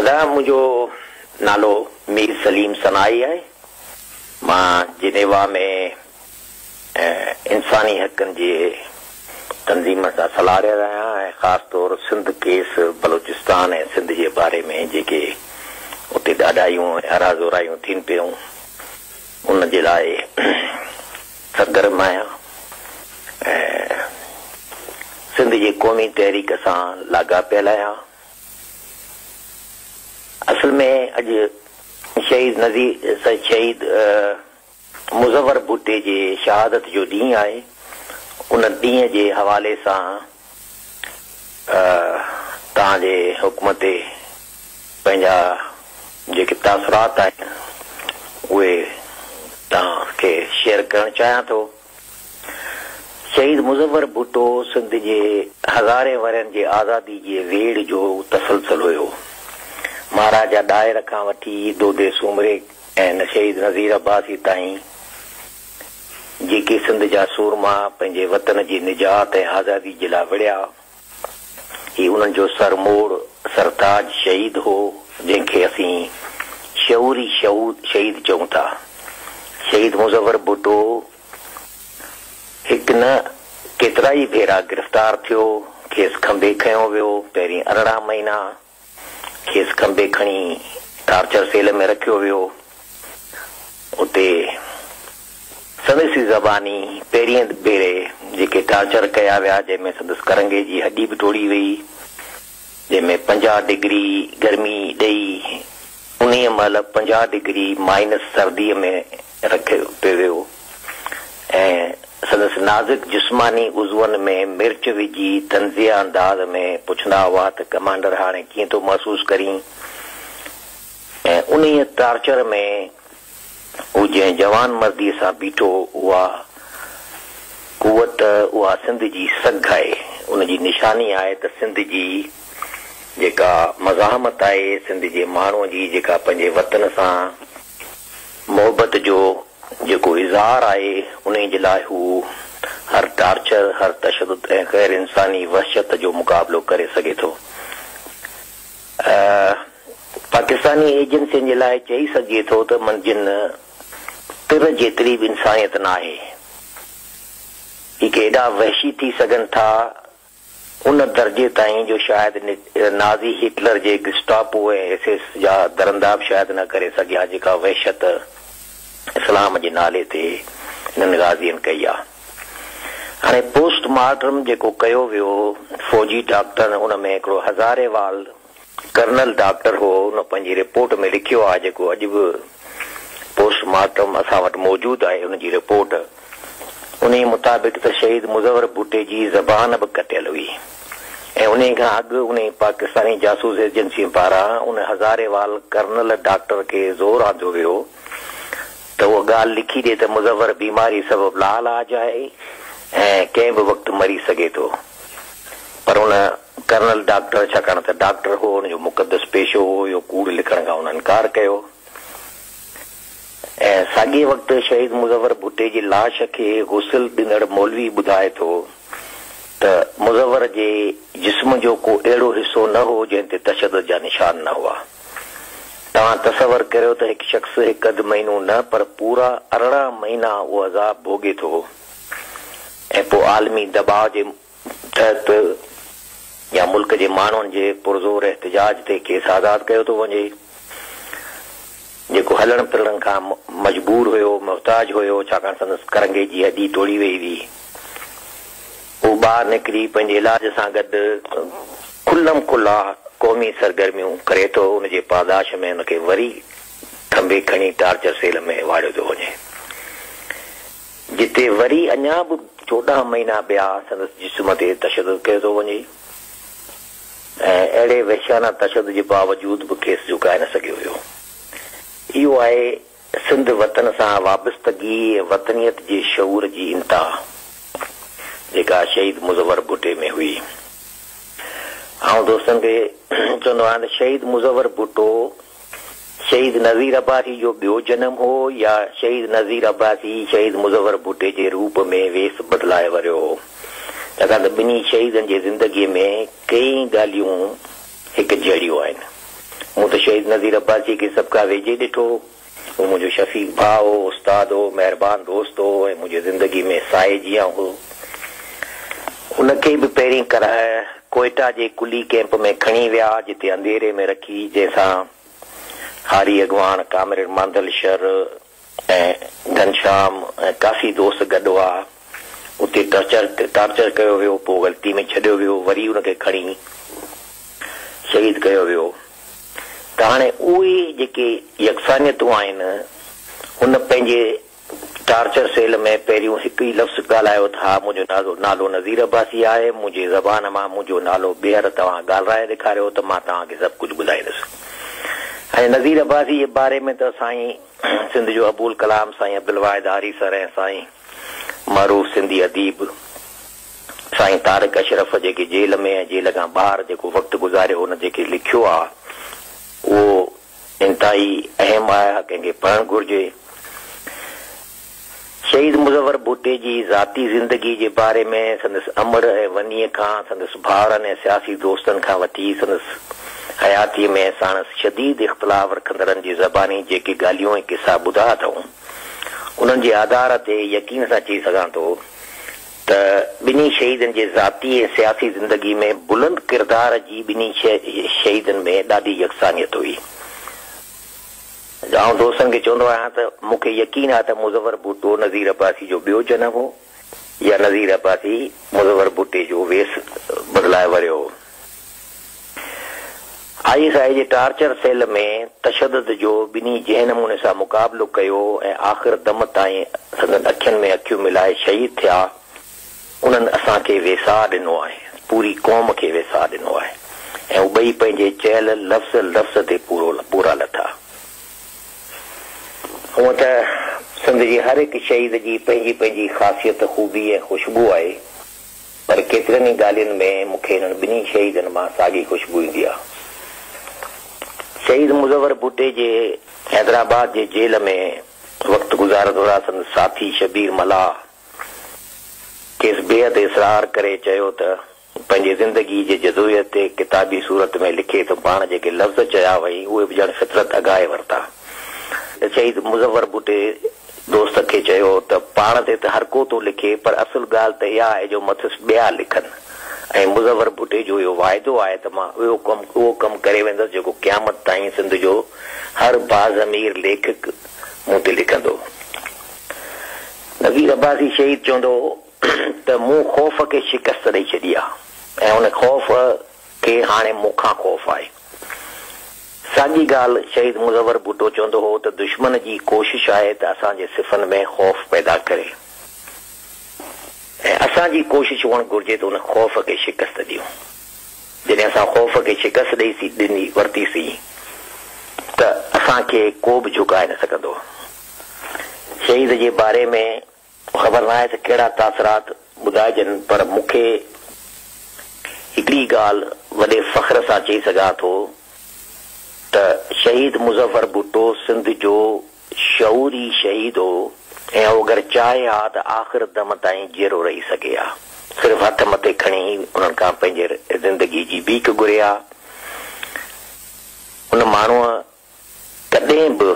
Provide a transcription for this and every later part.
ادا منهنجو نالو مير سليم سنائي آهي مان جنيوا ۾ انساني حقن جي تنظيمن سان صلاحرير آهيان ۽ خاص طور سنڌ ڪيس بلوچستان ۽ سنڌ جي باري ۾ جيڪي اتي ڏاڍايون ۽ اراضورايون ٿين پيون ان جي لاء سرگرم آهيان ۽ سنڌ جي قومي تحريڪ سان لاڳاپيل آهيان. اصل ۾ اڄ شهيد نذير شهيد مظور ڀٽي جي شهادت جو ڏينهن آهي. ان ڏينهن جي حوالي سان توهان جي حڪم تي پنهنجا جيڪي تاثرات آهن اهي توهان کي شيئر ڪرڻ چاهيان ٿو. شهيد مظفر ڀٽو سنڌ جي هزارين ورهين جي آزادي جي ويڙهه جو تسلسل هيو. مهاراجا ڏاهر کان وٺي دودي سومري ۽ شهيد نظير عباسي تائين جيڪي سنڌ جا سورما پنهنجي وطن جي نجات ۽ آزادي جي لاء وڙهيا. هي انهن جو سر موڙ، سرتاج شهيد هو، جنهن کي اسين شعوري شهود شهيد چئون ٿا. شهيد مظفر ڀٽو هڪ نه ڪيترائي ڀيرا گرفتار ٿيو، کيس کنڀي کنيو ويو، پهرين ارڙهن مهينا، کيس کنڀي کڻي ٽارچر سيل ۾ رکيو ويو. اتي سندس ئي زباني پهرين ڀيري جيڪي ٽارچر ڪيا ويا جنهن ۾ سندس ڪرنگهي جي هڏي به ٽوڙي ويئي جنهن ۾ پنجاهه ڊگري گرمي ڏئي انهيء مهل پنجاهه ڊگري مائنس سرديء ۾ رکيو پيو ويو ۽ سندس نازڪ جسماني عضون ۾ مرچ وجهي طنزيه انداز ۾ پڇندا هئا ته ڪمانڊر هاڻي ڪيئن ٿو محسوس ڪرين؟ ۽ انهيء ٽارچر ۾ هو جنهن جوانمرديء سان بيٺو اها قوت اها سنڌ جي سگهه آهي، ان جي نشاني آهي ته سنڌ جي جيڪا مزاحمت آهي، سنڌ جي ماڻهوء جي جيڪا پنهنجي وطن سان. محبت جو جيڪو اظهار آهي انهي جي لاء هو هر ٽارچر، هر تشدد ۽ غير انساني وحشت جو مقابلو ڪري سگهي ٿو. پاڪستاني ايجنسين جي لاء چئي سگهجي ٿو ته من جن تر جيتري به انسانيت ناهي. هي ڪي ايڏا وحشي ٿي سگهن ٿا ان درجي تائين جو شايد نازي هٽلر جي گسٽاپو ۽ ايس ايس جا درندا به شايد نه ڪري سگهيا ها جيڪا وحشت اسلام جي نالي تي انهن غازين ڪئي آ. هاڻي پوسٽ مارٽم جيڪو ڪيو ويو فوجي ڊاڪٽرن ان ۾ هڪڙو هزاري وال ڪرنل ڊاڪٽر هو هن پنهنجي رپورٽ ۾ لکيو آهي جيڪو اڄ به پوسٽ مارٽم اسان وٽ موجود آهي ان جي رپورٽ انهي مطابق ته شهيد مظور ڀٽي جي زبان به ڪٽيل هئي ۽ انهي کان اڳ انهي پاڪستاني جاسوس ايجنسين پاران ان هزاري وال ڪرنل ڊاڪٽر کي زور آندو ويو ته اها ڳالهه لکي ڏي ته مظور بيماري سبب لاعلاج آهي ۽ ڪنهن به وقت مري سگهي ٿو پر ان ڪرنل ڊاڪٽر، ڇاڪاڻ ته ڊاڪٽر هو، هن جو مقدس پيشو هو، اهو ڪوڙ لکڻ کان هن انڪار ڪيو ۽ ساڳئي وقت شهيد مظفر ڀٽي جي لاش کي غسل ڏيندڙ مولوي ٻڌائي ٿو ته مظفر جي جسم جو ڪو اهڙو حصو نه هو جنهن تي تشدد جا نشان نه هئا. توهان تصور ڪريو ته هڪ شخص هڪ اڌ مهينو نه پر پورا ارڙهن مهينا اهو عذاب ڀوڳي ٿو ۽ پوء عالمي دٻاء جي تحت يا ملڪ جي ماڻهن جي پرزور احتجاج تي کيس آزاد ڪيو ٿو وڃي، جيڪو هلڻ ڦرڻ کان مجبور هيو، محتاج هيو، ڇاڪاڻ سندس ڪرنگهي جي هڏي ٽوڙي ويئي هئي. هو ٻاهر نڪري پنهنجي علاج سان گڏ کلم کلا قومي سرگرميون ڪري ٿو، ان جي پاداش ۾ هن کي وري ٿنڀي کڻي ٽارچر سيل ۾ واڙيو ٿو وڃي. جتي وري اڃا به چوڏهن مهينا ٻيا سندس جسم تي تشدد ڪيو ٿو وڃي ۽ اهڙي وحشيانه تشدد جي باوجود به کيس جهڪائي نه سگهيو ويو. اهو آهي سنڌ وطن سان وابستگي ۽ وطنيت جي شعور جي انتها جيڪا شهيد مظور ڀٽي ۾ هئي. آئون دوستن کي چوندو آهيان ته شهيد مظور ڀٽو، شهيد نذير عباسي جو ٻيو جنم هو يا شهيد نذير عباسي شهيد مظفر ڀٽي جي روپ ۾ ويس بدلائي وريو هو؟ ڇاڪاڻ ته ٻنهي شهيدن جي زندگيء ۾ ڪيئي ڳالهيون هڪ جهڙيون آهن. مون ته شهيد نذير عباسيء کي سڀ کان ويجهي ڏٺو هو. هو منهنجو شفيق ڀاء هو، استاد هو، مهربان دوست هو ۽ منهنجي زندگيء ۾ سائي جيان هو. ان کي به پهرين ڪرهه ڪوئيٽا جي ڪلي ڪيمپ ۾ کڻي ويا جتي انڌيري ۾ رکي جنهن سان هاري اڳواڻ، ڪامريڊ مانڌل شر ۽ گهنشام ۽ ڪافي دوست گڏ هئا. اتي ٽرچر ٽارچر ڪيو ويو پوء غلطي ۾ ڇڏيو ويو وري ان کي کڻي شهيد ڪيو ويو ته هاڻي اهي جيڪي يڪسانيتون آهن هن پنهنجي ٽارچر سيل ۾ پهريون هڪ ئي لفظ ڳالهايو ته ها منهنجو نالو نالو نذير عباسي آهي، منهنجي زبان مان منهنجو نالو ٻيهر توهان ڳالرائي ڏيکاريو ته مان توهان کي سڀ ڪجهه ٻڌائيندس ۽ نذير عباسي جي باري ۾ ته سائين سنڌ جو ابو الڪلام سائين عبدالواحد آريسر ۽ سائين معروف سنڌي اديب سائين طارق اشرف جيڪي جيل ۾ ۽ جيل کان ٻاهر جيڪو وقت گذاريو هو ان جيڪي لکيو آهي اهو انتهائي اهم آهي هر ڪنهن کي پڙهڻ گهرجي. شهيد مظفر ڀٽي جي ذاتي زندگي جي باري ۾ سندس امڙ ۽ ونيء کان سندس ڀائرن ۽ سياسي دوستن کان وٺي سندس حياتيء ۾ ساڻس شديد اختلاف رکندڙن جي زباني جيڪي ڳالهيون ۽ قصا ٻڌا اٿئون انهن جي آڌار تي يقين سان چئي سگهان ٿو ته ٻنهي شهيدن جي ذاتي ۽ سياسي زندگي ۾ بلند ڪردار جي ٻنهي شهيدن ۾ ڏاڍي يڪسانيت هئي. آئون دوستن کي چوندو آهيان ته مون کي يقين آهي ته مظفر ڀٽو نظير عباسي جو ٻيو جنم هو يا نظير عباسي مظفر ڀٽي جو ويس بدلائي وريو هو. آء ايس آء جي ٽارچر سيل ۾ تشدد جو ٻنهي جنهن نموني سان مقابلو ڪيو ۽ آخر دم تائين سندن اکين ۾ اکيون ملائي شهيد ٿيا، انهن اسان کي ويساهه ڏنو آهي، پوري قوم کي ويساهه ڏنو آهي ۽ هو ٻئي پنهنجي چيل لفظ لفظ تي پورا لٿا. هونء ته سنڌ جي هر هڪ شهيد جي پنهنجي پنهنجي خاصيت، خوبي ۽ خوشبو آهي. پر ڪيترين ئي ڳالهين ۾ مون کي انهن ٻنهي شهيدن مان ساڳي خوشبو ايندي آهي. شهيد مظور ڀٽي جي حيدرآباد جي جيل ۾ وقت گذارڻ دوران سندس ساٿي شبير ملاح کيس بيحد اصرار ڪري چيو ته پنهنجي زندگي جي جدوجهد تي ڪتابي صورت ۾ لکي ته پاڻ جيڪي لفظ چيا هئائين اهي به ڄڻ فطرت اگهائي ورتا ته شهيد مظور ڀٽي دوست کي چيو ته پاڻ تي ته هرڪو ٿو لکي پر اصل ڳالهه ته اها آهي جو مٿس ٻيا لکن ۽ مظور ڀٽي جو اهو واعدو آهي ته مان اهو ڪم اهو ڪم ڪري ويندس جيڪو قيامت تائين سنڌ جو هر باضمير ليکڪ مون تي لکندو. نذير عباسي شهيد چوندو هو ته مون خوف کي شڪست ڏئي ڇڏي آهي ۽ ان خوف کي هاڻي مون کان خوف آهي. ساڳي ڳالهه شهيد مزور ڀٽو چوندو هو ته دشمن جي ڪوشش آهي ته اسان جي صفن ۾ خوف پيدا ڪري ۽ اسان جي ڪوشش هئڻ گهرجي ته ان خوف کي شڪست ڏيون. جڏهن اسان خوف کي شڪست ڏئي ورتيسين ته اسان کي ڪو به جهڪائي نه سگهندو. شهيد جي باري ۾ خبر ناهي ته ڪهڙا تاثرات ٻڌائجن پر مون کي هڪڙي ڳالهه وڏي فخر سان چئي سگهان ٿو ته شهيد مظفر ڀٽو سنڌ جو شعوري شهيد هو ۽ هو اگر چاهي ها ته آخر دم تائين جيئرو رهي سگهي ها صرف هٿ مٿي کڻي هي انهن کان پنهنجي زندگي جي ڀيڪ گهري ها ان ماڻهوء ڪڏهن به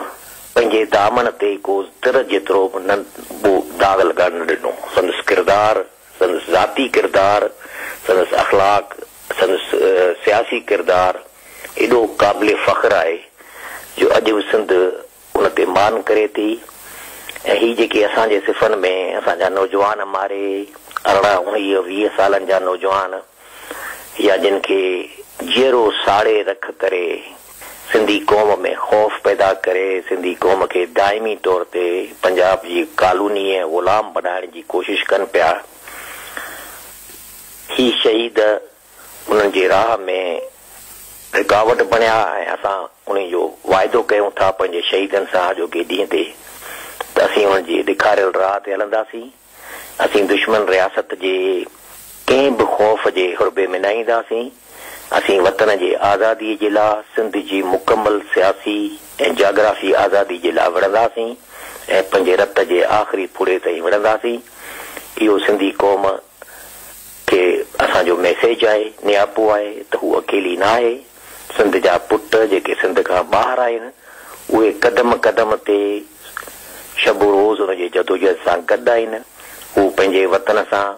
پنهنجي دامن تي ڪو تر جيترو به ننڍو داغ لڳڻ نه ڏنو. سندس ڪردار، سندس ذاتي ڪردار، سندس اخلاق، سندس سياسي ڪردار ايڏو قابل فخر آهي جو اڄ به سنڌ ان تي مان ڪري ٿي ۽ هي جيڪي اسان جي صفن ۾ اسان جا نوجوان مارئي ارڙهن، اڻويهه، ويهه سالن جا نوجوان، يا جن کي جيئرو ساڙي رک ڪري سنڌي قوم ۾ خوف پيدا ڪري سنڌي قوم کي دائمي طور تي پنجاب جي ڪالوني ۽ غلام بنائڻ جي ڪوشش ڪن پيا هي شهيد انهن جي راهه ۾ رڪاوٽ بڻيا ۽ اسان انهي جو واعدو ڪيون ٿا پنهنجي شهيدن سان اڄوڪي ڏينهن تي ته اسين انهن جي ڏيکاريل راهه تي هلنداسين. اسين دشمن رياست جي ڪنهن به خوف جي حربي ۾ نه اينداسين، اسين وطن جي آزادي جي لا سنڌ جي مڪمل سياسي ۽ جاگرافي آزادي جي لا وڙهنداسين ۽ پنهنجي رت جي آخري ڦڙي تائين وڙهنداسين، اهو سنڌي قوم کي اسان جو ميسيج آهي، نياپو آهي ته هو اڪيلي نه آهي. سنڌ جا پٽ جيڪي سنڌ کان ٻاهر آهن، اهي قدم قدم تي شب و روز ان جي جدوجهد سان گڏ آهن. هو پنهنجي وطن سان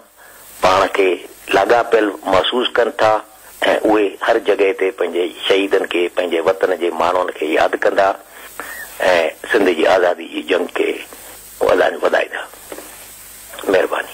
پاڻ کي لاڳاپيل محسوس ڪن ٿا ۽ اهي هر جڳهه تي پنهنجي شهيدن کي پنهنجي وطن جي ماڻهن کي ياد ڪندا ۽ سنڌ جي آزادي جي جنگ کي وڌائيندا. مهرباني.